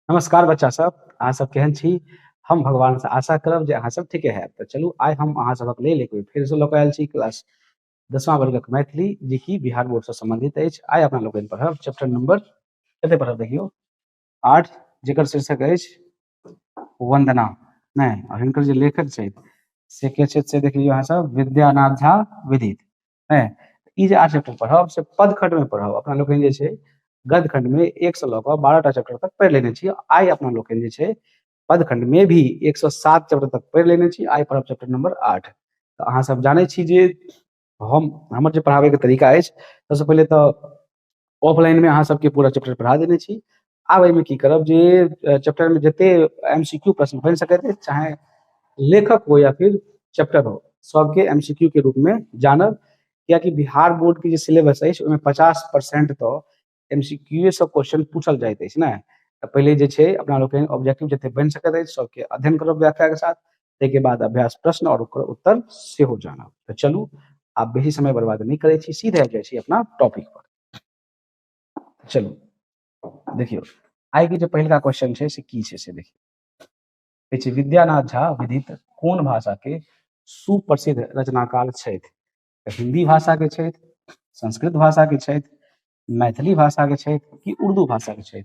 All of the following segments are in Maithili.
नमस्कार बच्चा सब अहाँ सब केहन छी हम भगवान से आशा करब जे अहाँ सब ठीके है तो चलू आइ हम अहाँ सबक लेल एक बेर से लऽ आयल छी क्लास दसमा वर्गक मैथिली जे कि बिहार बोर्ड से संबंधित अछि आइ अपना लोकनि पढ़ब चैप्टर नंबर कते पढ़ब देखियौ आठ जेकर शीर्षक अछि वंदना नहि और हिनकर जे लेखक छथि से के छथि से देख लियौ अहाँ सब विद्यानाथ झा विदित है ई जे आठ चैप्टर पढ़ब से पद खंड में पढ़ब अपना लोग जे छै गद खंड में एक से लऽ कऽ बारह टा चैप्टर तक पढ़ि लेने छी आइ अपना लोग जे छै पद खंड में भी एक सौ सात चैप्टर तक पढ़ि लेने छी आइ पढ़ब चैप्टर नंबर आठ तऽ अहाँ सब जानै छी जे हम हमर जे पढ़ाबैके तरीका अछि सबसँ पहिले तऽ ऑफलाइनमे अहाँ सबके पूरा चैप्टर पढ़ा देने छी आब एहिमे की करब जे चैप्टरमे जते एम सी क्यू प्रश्न बनि सकैत अछि चाहे लेखक हो या फिर चैप्टर हो सबके एम सी क्यू के रूपमे जानब कियाकि बिहार बोर्डके जे सिलेबस अछि ओहिमे पचास परसेंट तऽ एम सी क्यूए सब क्वेश्चन पूछल जाइत अछि ने तऽ पहिले जे छै अपना लोकनि ऑब्जेक्टिव जते बनि सकैत अछि सबके अध्ययन करब व्याख्याके साथ ताहिके बाद अभ्यास प्रश्न और ओकर उत्तर सेहो जानब तऽ चलू आब बेसी समय बर्बाद नहीं करे छी सीधे जाइ छी अपना टॉपिक पर चलू देखियो आइ के जे पहिलका क्वेश्चन छै से की छै से देखियो विद्यानाथ झा विदित कोन भाषा के सुप्रसिद्ध रचनाकार छथि तऽ हिंदी भाषा के छथि संस्कृत भाषा के छथि मैथिली भाषा के छथि कि उर्दू भाषा के छथि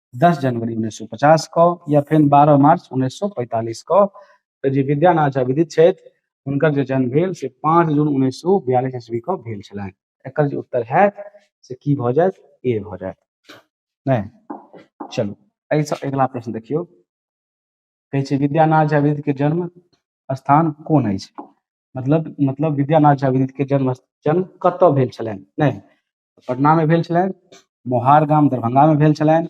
दस जनवरी उन्नैस सए पचास कऽ या फेर बारह मार्च उन्नैस सए पैंतालिस कऽ तऽ जे विद्यानाथ झा विदित छथि हुनकर जे जन्म भेल से पाँच जून उन्नैस सए बियालिस ईस्वी कऽ भेल छलनि एकर जे उत्तर होयत से की भऽ जायत ए भऽ जायत नहि चलू एहिसँ अगिला प्रश्न देखियौ कहै छै विद्यानाथ झा विदित के जन्म स्थान कोन अछि मतलब मतलब विद्यानाथ झा विदित के जन्म जन्म कतऽ भेल छलनि नहि पटनामे भेल छलनि मोहार गाम दरभंगामे भेल छलनि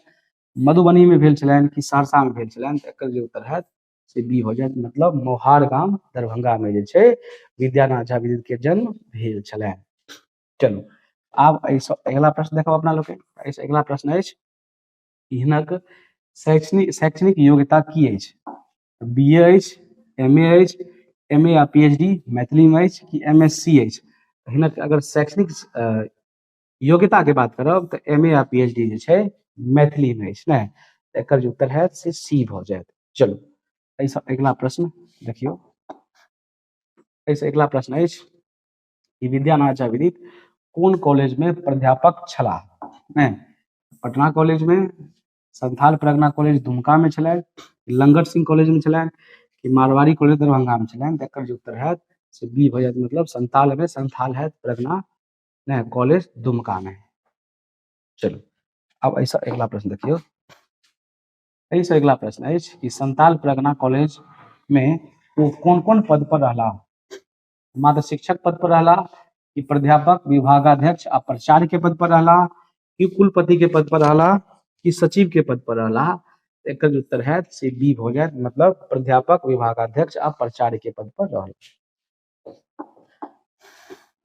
मधुबनीमे भेल छलनि कि सहरसामे भेल छलनि तऽ एकर जे उत्तर हैत से बी हो जायत मतलब मोहार गाम दरभंगामे जे छै विद्यानाथ झा विद्युतके जन्म भेल छलनि चलू आब एहिसँ अगिला प्रश्न देखब अपना लोकनि एहिसँ अगिला प्रश्न अछि हिनक शैक्षणिक शैक्षणिक योग्यता की अछि बी ए अछि एम ए अछि एम ए आ पी एच डी मैथिलीमे अछि कि एम एस सी अछि हिनक अगर शैक्षणिक अ, योग्यताके बात करब तऽ एम ए आ पी एच डी जे छै मैथिलीमे अछि ने तऽ एकर जे उत्तर हैत से सी भऽ जायत चलू एहिसँ अगिला प्रश्न देखियौ एहिसँ अगिला प्रश्न अछि कि विद्यानाथ झा विदित कोन कॉलेजमे प्राध्यापक छलाह नहि पटना कॉलेजमे संथाल परगना कॉलेज दुमका मे छलैन लंगट सिंह कॉलेज मे छलैन कि मारवाड़ी कॉलेज दरभंगा मे छलैन त एकर जे उत्तर हैत से बी भ जायत मतलब संथाल मे संथाल हैत परगना नै कॉलेज दुमका मे चलू आब ऐसा अगला प्रश्न देखियो एहि से अगला प्रश्न अछि कि संथाल परगना कॉलेज मे ओ कोन-कोन पद पर रहला मात्र शिक्षक पद पर रहला कि प्राध्यापक विभागाध्यक्ष आ प्राचार्य के पद पर रहला कि कुलपति के पद पर रहला कि सचिव के पद पर रहला एकर जे उत्तर है से बी हो जाए मतलब प्राध्यापक विभागाध्यक्ष आ प्राचार्य के पद पर रहला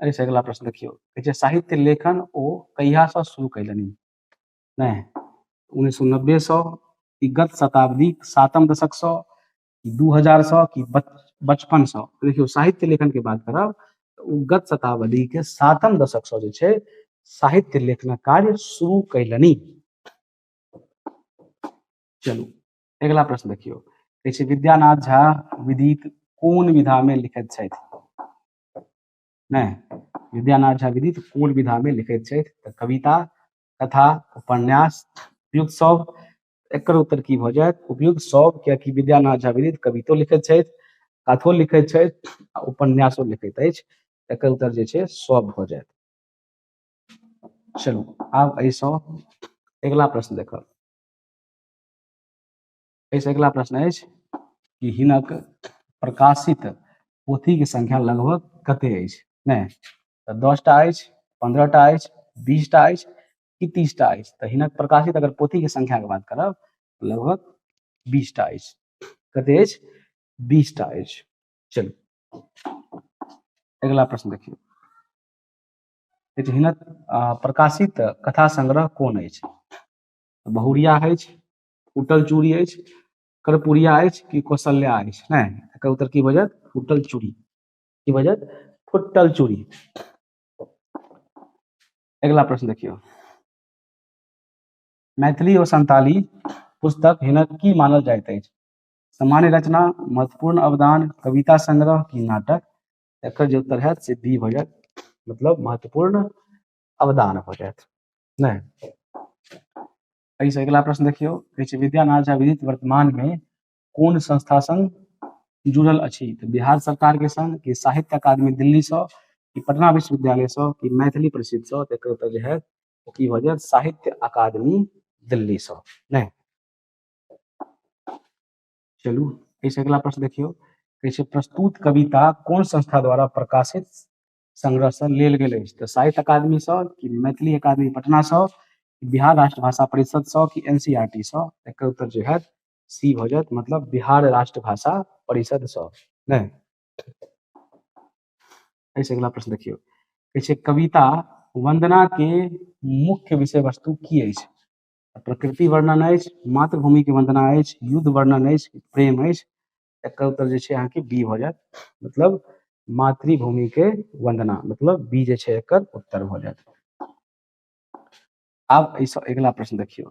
अरे से अगला प्रश्न देखियो कहै छै, साहित्य लेखन ओ कहिया से शुरू कैलनि नहीं उन्नीस सौ नब्बे सौ कि गत शताब्दी सातम दशक सौ कि दू हजार सौ कि बचपन सौ तो देखियो साहित्य लेखन के बात करब तो उ गत शताब्दी के सातम दशक सौ जे छै साहित्य लेखन कार्य शुरू कैलनी चलू अगला प्रश्न देखियो कहै छै विद्यानाथ झा विदित कोन विधा में लिखत छथि नहीं विद्यानाथ झा विदित कोन विधा में लिखत छथि कविता कथा उपन्यास युग सब एकर उत्तर की भऽ जायत उपयुक्त सब कियाकि विद्यानाथ झा विदित कवितो लिखैत छथि कथो लिखैत छथि आ उपन्यासो लिखैत अछि एकर उत्तर जे छै सब भऽ जायत चलू आब एहिसँ अगिला प्रश्न देखब एहिसँ अगिला प्रश्न अछि कि हिनक प्रकाशित पोथीके संख्या लगभग कते अछि नहि तऽ दसटा अछि पन्द्रहटा अछि बीसटा अछि कि तीसटा अछि तऽ हिनक प्रकाशित अगर पोथीके संख्याके बात करब लगभग बीसटा अछि कते अछि बीसटा अछि चलू अगिला प्रश्न देखियौ हिनक प्रकाशित कथा संग्रह कोन अछि बहुरिया अछि उटल चूड़ी अछि कर्पूरिया अछि कि कौशल्या अछि नहि एकर उत्तर की बजत फुटल चूड़ी की बजत फुटल चूड़ी अगिला प्रश्न देखियौ मैथिली और संताली पुस्तक हिनक की मानल जाइत अछि सामान्य रचना महत्वपूर्ण अवदान कविता संग्रह की नाटक एकर जे उत्तर है से डी भऽ जायत मतलब महत्वपूर्ण अवदान भऽ जायत नहि एहिसँ अगिला प्रश्न देखियौ कहै छै विद्यानाथ झा विदित वर्तमानमे कोन संस्था संग जुड़ल अछि तऽ बिहार सरकार के संग कि साहित्य अकादमी दिल्ली सँ कि पटना विश्वविद्यालय सँ कि मैथिली परिषद सँ तऽ एकर उत्तर जे है ओ की भऽ जायत साहित्य अकादमी दिल्ली सँ नहि चलू एहिसँ अगिला प्रश्न देखियौ कहै छै प्रस्तुत कविता कोन संस्था द्वारा प्रकाशित संग्रह सँ लेल गेल अछि तऽ साहित्य अकादमी सँ कि मैथिली अकादमी पटना सँ कि बिहार राष्ट्रभाषा परिषद सँ कि एन सी आर टी सँ एकर उत्तर जे हैत सी भऽ जायत मतलब बिहार राष्ट्र भाषा परिषद सँ नहि एहिसँ अगिला प्रश्न देखियौ कहै छै कविता वंदना के मुख्य विषय वस्तु की अछि प्रकृति वर्णन अछि मातृभूमि के वंदना अछि युद्ध वर्णन अछि प्रेम अछि एकर उत्तर जे छै अहाँके बी भऽ जायत मतलब मातृभूमि के वंदना मतलब बी जे छै एकर उत्तर भऽ जायत आब एहिसँ अगिला प्रश्न देखियौ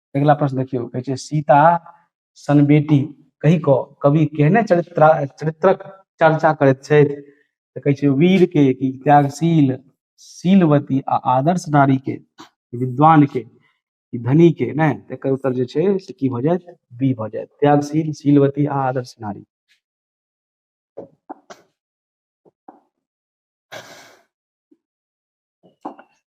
अगिला प्रश्न देखियौ कहै छै सीता सन बेटी कहि कऽ कवि केहने चरित्र चरित्रक चर्चा करैत छथि तऽ कहै छै वीर के कि त्यागशील शीलवती आ आदर्श नारी के विद्वान के धनी के नहि एकर उत्तर जे छै से की भऽ जायत बी भऽ जायत त्यागशील शीलवती आ आदर्श नारी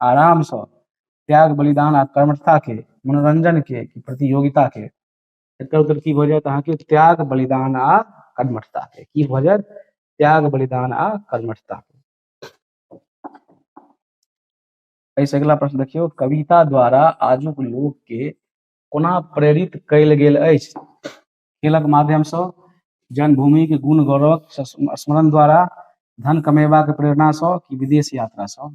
आराम सँ त्याग बलिदान आ कर्मठता के मनोरंजन के प्रतियोगिता के एकर उत्तर की भऽ जायत अहाँके त्याग बलिदान आ कर्मठता के की भऽ जायत त्याग बलिदान आ कर्मठता के एहिसँ अगिला प्रश्न देखियौ कविता द्वारा आजुक लोक के कोना प्रेरित कयल गेल अछि खेलक माध्यम सँ जन्मभूमि के गुण गौरवक स्मरण द्वारा धन कमेबाक प्रेरणा सँ कि विदेश यात्रा सँ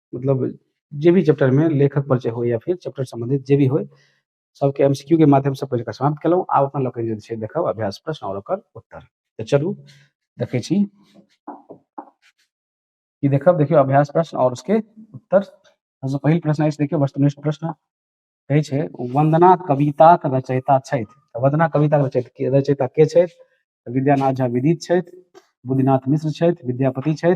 मतलब जे भी चैप्टर मे लेखक परिचय होइ या फेर चैप्टर सम्बन्धित जे भी होइ सबके एम सी क्यू के माध्यम सँ पढ़ि कऽ समाप्त केलहुॅं आब अपना लोकनि जे छै देखब अभ्यास प्रश्न आओर ओकर उत्तर तऽ चलू देखै छी ई देखब देखियौ अभ्यास प्रश्न आओर उसके उत्तर सबसँ पहिल प्रश्न अछि देखियौ वस्तुनिष्ठ प्रश्न कहै छै वंदना कविताक रचयिता छथि तऽ वंदना कविताक रचयिता रचयिता के छथि तऽ विद्यानाथ झा विदित छथि बुद्धिनाथ मिश्र छथि विद्यापति छथि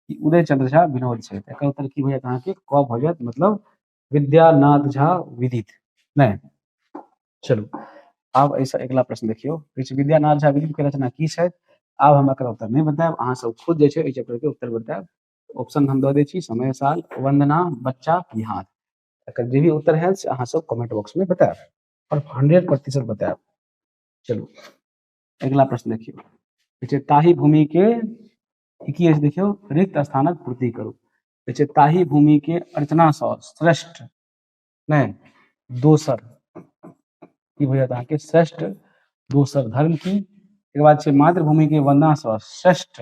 कि उदय चंद्र झा विनोद छथि एकर उत्तर की भऽ जायत अहाँके क भऽ जायत मतलब विद्यानाथ झा विदित नहि चलू आब एहिसँ अगिला प्रश्न देखियौ कहै छै विद्यानाथ झा विदित के रचना की छथि आब हम एकर उत्तर नहि बतायब अहाँ सब खुद जे छै एहि चैप्टर के उत्तर बतायब ऑप्शन हम दऽ दै छी समय साल वंदना बच्चा बिहार एकर जे भी उत्तर है से अहाँ सब कमेंट बॉक्स में बताएब और 100 प्रतिशत बताएब चलू अगला प्रश्न देखियो कहै ताही भूमि के की अछि देखियो रिक्त स्थानक पूर्ति करू कहै ताही भूमि के अर्चना सँ श्रेष्ठ नहीं दोसर की हो जाता है श्रेष्ठ दोसर धर्म की एक बाद से मातृभूमि के वंदना सँ श्रेष्ठ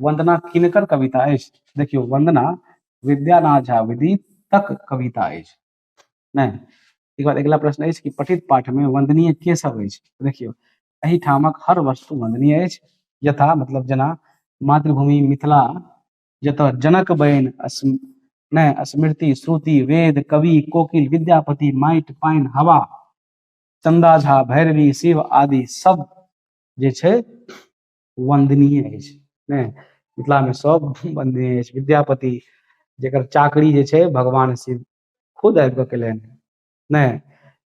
वंदना किनकर कविता अछि देखियो वंदना विद्यानाथ झा विदित तक कविता अछि नहि एक बाद अगिला प्रश्न अछि कि पठित पाठ में वंदनीय के सब अछि देखियो एहिठामक हर वस्तु वंदनीय अछि यथा मतलब जना मातृभूमि मिथिला जत जनक बयन नहीं स्मृति श्रुति वेद कवि कोकिल विद्यापति माइट पाइन हवा चंदा झा भैरवी शिव आदि सब जे छे वन्दनीय अछि ने मिथिलामे सभ वन्दनीय अछि विद्यापति जकर चाकरी जे छै भगवान शिव खुद आबि कऽ केलनि ने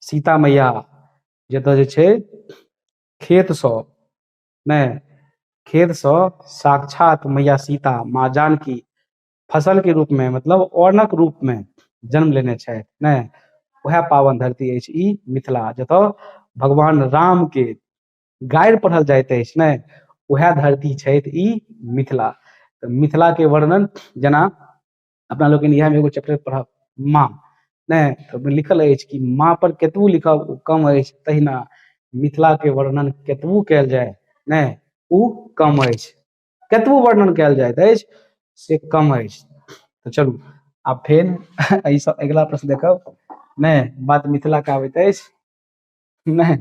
सीता मैया जतऽ जे छै खेतसँ ने खेतसँ साक्षात मैया सीता माँ जानकी फसलके रूपमे मतलब औनक रूपमे जन्म लेने छथि ने उएह पावन धरती अछि ई मिथिला जतऽ भगवान रामके गारि पढ़ल जाइत अछि ने उएह धरती छथि ई मिथिला तऽ मिथिलाके वर्णन जेना अपना लोकनि इएहमे एगो चैप्टर पढ़ब माँ नहि तऽ ओहिमे लिखल अछि कि माँपर कतबो लिखब ओ कम अछि तहिना मिथिलाके वर्णन कतबो कयल जाय नहि ओ कम अछि कतबो वर्णन कयल जाइत अछि से कम अछि तऽ चलू आब फेर एहिसँ अगिला प्रश्न देखब नहि बात मिथिलाके आबैत अछि नहि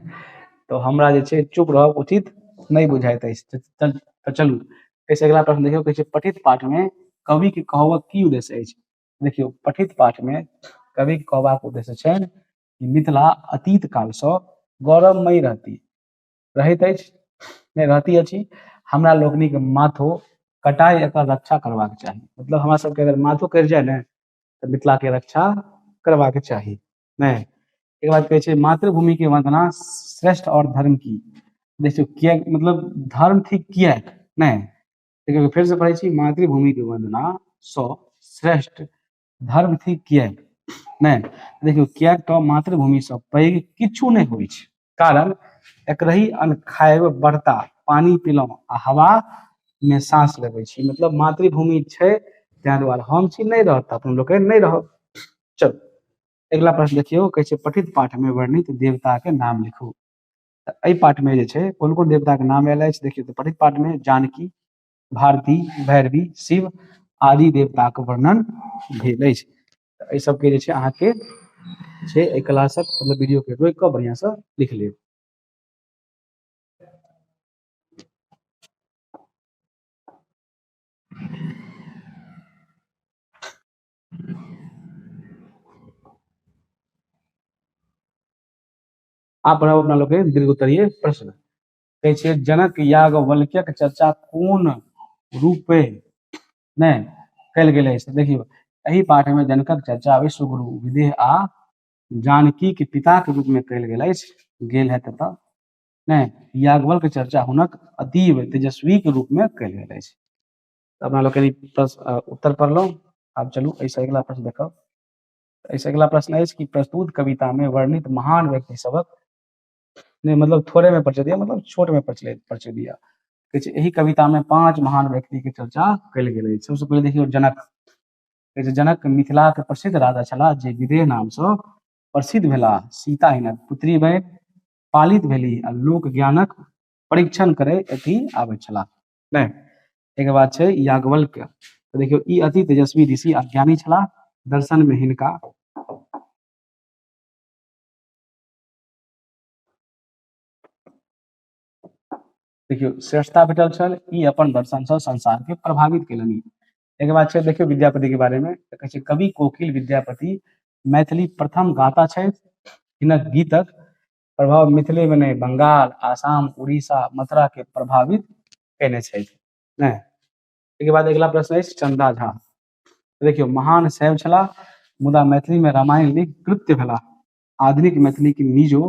तऽ हमरा जे छै चुप रहब उचित नहि बुझाइत अछि तऽ तऽ तऽ चलू एहिसँ अगिला प्रश्न देखियौ कहै छै पठित पाठमे कविके कहबक की उद्देश्य अछि देखियौ पठित पाठमे कविके कहबाक उद्देश्य छनि कि मिथिला अतीत कालसँ गौरवमयी रहती रहैत अछि नहि रहती अछि हमरा लोकनिक माथो कटाइ एकर रक्षा करबाक चाही मतलब हमरा सबके अगर माथो कटि जाइ ने तऽ मिथिलाके रक्षा करबाके चाही नहि एक बात कहै छै मातृभूमि के वंदना श्रेष्ठ और धर्म की देखियौ किया मतलब धर्म थिक किया नहि देखियौ फेर से पढ़ै छी मातृभूमि के वंदना स श्रेष्ठ धर्म थिक किया नहि देखियौ किया तऽ मातृभूमि सँ पैघ किछु नहि होइ छै कारण एकरही अन्न खाएब बर्ता पानी पीलहुँ आ हवा मे साँस लेबै छी मतलब मातृभूमि छै ताहि दुआरे हम छी नहि रहत अपन लोकनि नहि रहब चलू अगिला प्रश्न देखियौ कहै छै पठित पाठमे वर्णित देवताके नाम लिखू तऽ एहि पाठमे जे छै कोन कोन देवताके नाम आयल अछि देखियौ तऽ पठित पाठमे जानकी भारती भैरवी शिव आदि देवताके वर्णन भेल अछि एहि सबके जे छै अहाँके छै एहि क्लासक मतलब वीडियोके रोकि कऽ बढ़िआँसँ लिख लेब आप पढ़ाओ अपना लोग दीर्घ उत्तरीय प्रश्न कहे जनक याग वल्क्यक चर्चा कोन रूपे नहि कयल गेलै से देखियौ एहि पाठमे जनकक चर्चा विश्व गुरु विदेह आ जानकीके पिताके रूपमे कयल गेल अछि गेल है ततऽ नहि याज्ञवल्क चर्चा हुनक अतीव तेजस्वीके रूपमे कयल गेल अछि तऽ अपना लोकनि प्रश्न- उत्तर पढ़लहुँ आब चलू एहिसँ अगिला प्रश्न देखब एहिसँ अगिला प्रश्न अछि कि प्रस्तुत कवितामे वर्णित महान व्यक्ति सभक नहि मतलब थोड़े में प्रचलित यऽ मतलब छोट में प्रचलित प्रचलित यऽ कहै छै एहि कविता में पांच महान व्यक्ति के चर्चा कयल गेल अछि सबसे पहिले देखियौ जनक कहै छै जनक मिथिला के प्रसिद्ध राजा छलाह जे विदेह नाम से प्रसिद्ध भेलाह सीता हिनक पुत्री बनि पालित भेली आ लोक ज्ञानक परीक्षण करे अथी आबै छलाह नहि एक बात छै याज्ञवल्क्य तो देखियो ई अति तेजस्वी ऋषि आ ज्ञानी छलाह दर्शन में हिनका देखियौ श्रेष्ठता भेटल छल ई अपन दर्शनसँ संसारके प्रभावित केलनि एकर बाद छै देखियौ विद्यापतिके बारेमे तऽ कहै छै कवि कोकिल विद्यापति मैथिली प्रथम गाता छथि हिनक गीतक प्रभाव मिथिलेमे नहि बंगाल आसाम उड़ीसा मथुराके प्रभावित कयने छथि नहि एहिके बाद अगिला प्रश्न अछि चंदा झा देखियौ महान शैव छलाह मुदा मैथिलीमे रामायण लिख कृत्य भेलाह आधुनिक मैथिली के नीजो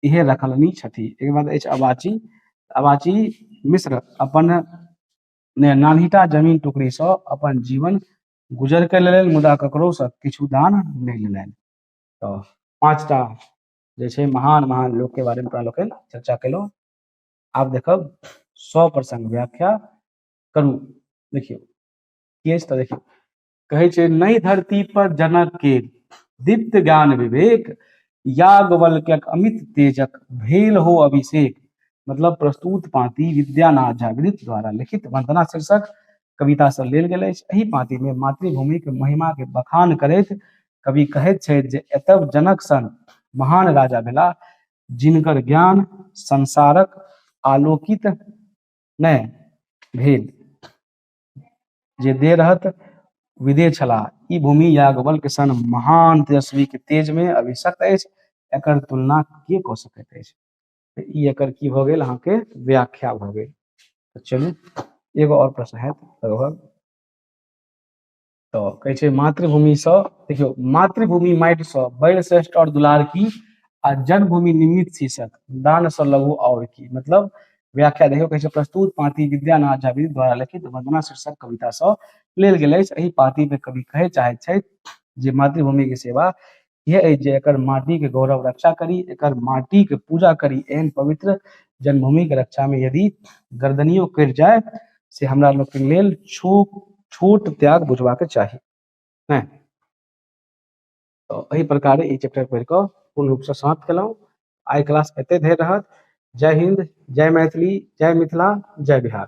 इहे रखलनि छथि एक बाद अछि अबाची अबाची मिश्र अपन नान्हिटा जमीन टुकड़ी से अपन जीवन गुजर के लेल मुदा ककरो से किछु दान नहि लेलनि तो पांचटा जे छै महान महान लोक के बारे में तोरा लोकनि चर्चा केलहुँ आब देखब सौ प्रसंग व्याख्या करू देखियौ के अछि तऽ देखियौ कहै छै नहि धरती पर जनक के दीप्त ज्ञान विवेक याज्ञवल्क्यक अमित तेजक भेल हो अभिषेक मतलब प्रस्तुत पाँति विद्यानाथ जागृत द्वारा लिखित वंदना शीर्षक कविता से लेल गेल अछि एहि पाँति मे मातृभूमि के महिमा के बखान करैत कवि कहैत छथि जे एतब जनक सन महान राजा भेला जिनकर ज्ञान संसारक आलोकित नहि भेल जे दे रहत विदे छलाह ई भूमि याज्ञवल्क के सन महान तेजस्वी के तेज में अभिशक्त अछि एकर तुलना के कऽ सकैत अछि तऽ ई एकर की भऽ गेल अहाँके व्याख्या भऽ गेल तऽ चलू एगो और प्रश्न हैत लगभग तऽ कहै छै मातृभूमिसँ देखियौ मातृभूमि माटिसँ बड़ि श्रेष्ठ आओर दुलार की आ जन्मभूमि निमित शीर्षक दानसँ लघु आओर की मतलब व्याख्या देखियौ कहै छै प्रस्तुत पाती विद्यानाथ झा द्वारा लिखित वंदना शीर्षक कवितासँ लेल गेल अछि एहि पातीमे कवि कहय चाहैत छथि जे मातृभूमिके सेवा यह अछि जे एकर माटी के गौरव रक्षा करी एकर माटी के पूजा करी एहन पवित्र जन्मभूमि के रक्षा में यदि गर्दनियो कटि जाय से हमरा लोग के लेल छो छोट त्याग बुझवा के चाही हैं तो एहि प्रकार ई चैप्टर पढ़ि कऽ पूर्ण रूप से समाप्त केलहुँ आइ क्लास एते धरि रहत जय हिंद जय मैथिली जय मिथिला जय बिहार